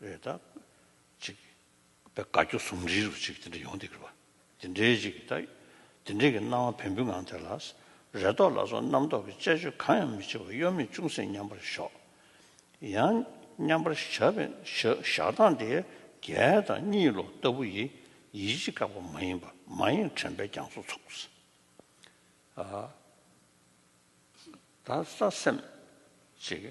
རེད་ད། ཅིག། པའི་དགའ་སྐྱོ་ཟུང་འབྲེལ་རུ་ཅིག་དེ་འདྲ་ཡོང་སྡིགས་རུ་བ། དེ་འདྲའི་ཅིག་ད། དེ་འདྲའི་གི་སྣང་བ་བན་བུན་ངང་དེ་ལ། རེ་དོགས་ལ་སོགས་རྣམ་རྟོག་གི་དཔྱད་བརྗོད་གང་ཡང་མི་བྱེད་པར་གཡོ་མེད་ཅུང་ཟད་མཉམ་པར་ཞོག། ཡང། མཉམ་པར་བཞག་པའི་བཞག་སྟངས་དེ། རྒྱལ་དང་གཉིད་ལོག་ལྟ་བུ་ཡི། ཡིད་ཆེས་བཀག་པ་མ་ཡིན་པར་མ་ཡེངས་དྲན་པའི་རྒྱང་སོ་ཚུགས། ཨ། ད་ས་སེམས། ཅིག།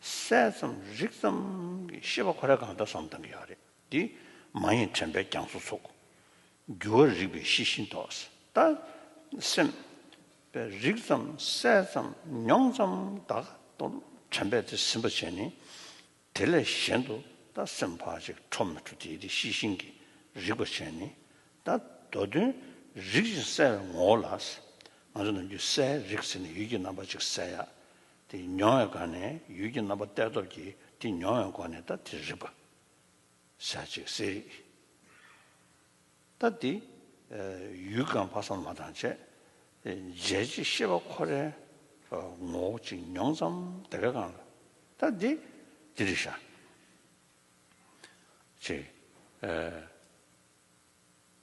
གསལ་ཙམ་རིག་ཙམ་གྱི་ཤེས་པ་ཁོ་ར་གང་འདྲ་སོང་བསྡམ་གྱི་ཡོད་རེད་དེ། མ་ཡིན་དྲན་པའི་རྒྱང་སོ་ཚུགས། འགྱུ་བ་རིག་པའི་ཤེས་བཞིན་དོགས། ལྟ། སེམས། པའི་རིག་ཙམ་གསལ་ཙམ་མྱོང་ཙམ་བདག་གཏོར་དྲན་པས་དེ་ཟིན་པར་བྱས་ནས། དེ་ལས་གཞན་དུ་ལྟ་སེམས་བར་གཅིག་འཕྲོ་མི་འཕྲོ་དེའི་དེ་ཤེས་བཞིན་གྱི་རིག་པར་བྱས་ནས། ལྟ། མདོ་དོན་རིག་ཅིང་གསལ་བའི་ངོ་བོ་ལ། ང་ཚོ་ནམ་རྒྱུན་གསལ་རིག་ཟེར་ནས་ཡུལ་གྱི་རྣམ་པ་གཅིག་གསལ་ཡག་དེ་མྱོང་བའི་སྒོ་ནས་ཡུལ་གྱི་རྣམ་པ་གཏད་སྟོབས་ཀྱིས་དེ་མྱོང་བའི་སྒོ་ནས་ད་དེ་རིག་པ། ཞག་གཅིག་གསལ་རིག། ད་དེ། ཡུལ་གང་དཔག་བསམ་མ་དང་བཅས། རྗེས་གཅིག་ཤེས་པ་ཁོ་རའི། ངོ་བོ་གཅིག་མྱོང་ཙམ་དེ་བས་གང། ད་དེ། དེ་རིག་ཞག། གཅིག།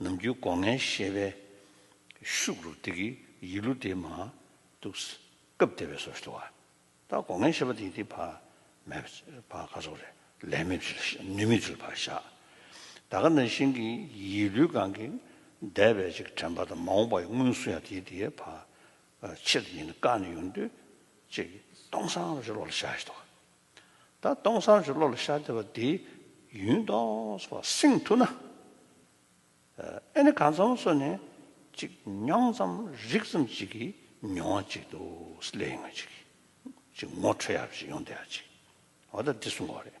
ནམ་རྒྱུན་སྒོ་ངའི་ཤེས་པའི་ཤུགས་རུ་དེ་གི་ཡིད་གླུ་དེ་མ་གཏུགས། སྐབས་དེ་བས་སོ་ཞེས་བ་ད་སྒོ་ངའི་ཤེས་པ་དེ་དེ་བག་མེད་བག་ཁ་ཟོ་རེ་ལས་མེད་ཚུལ་ནུས་མེད་ཚུལ་བག་ཤ་ད་ག་ན་ཤིང་གི་ཡིད་གླུའི་སྒང་གི་འདས་པའི་ཅིག་དྲན་པ་དང་མ་འོངས་པ་ཡི་སྔུན་སུ་ཡང་དེ་དེའི་བག་ཕྱིར་ཡིན་ནི་བཀག་ནས་ཡོང་དུས་ཅིག་སྟོང་སང་རེ་ལོག་ལ་བཞག་ཞེས་བ། ད་སྟོང་སང་ཞིག་བློ་ལ་ཤར་བདེ་བ་འདི་ཡུན་སྟོངས་བར་བསྲིང་ཐུབ་ན། ཨེ་ནི་གང་ཙམ་སོ་ནས་ཅིག་མྱོང་ཙམ་རིག་ཙམ་ཅིག་གིས་མྱོང་བ་ཅིག་འདུག་སླད་ངོས་ཅིག་ཅིག་ངོ་འཕྲོད་ཡག་པོ་ཞིག་ཡོང་བསྡད་ཡ་ཅིག་འོ་ད་འདི་གསུང་བ་རེད།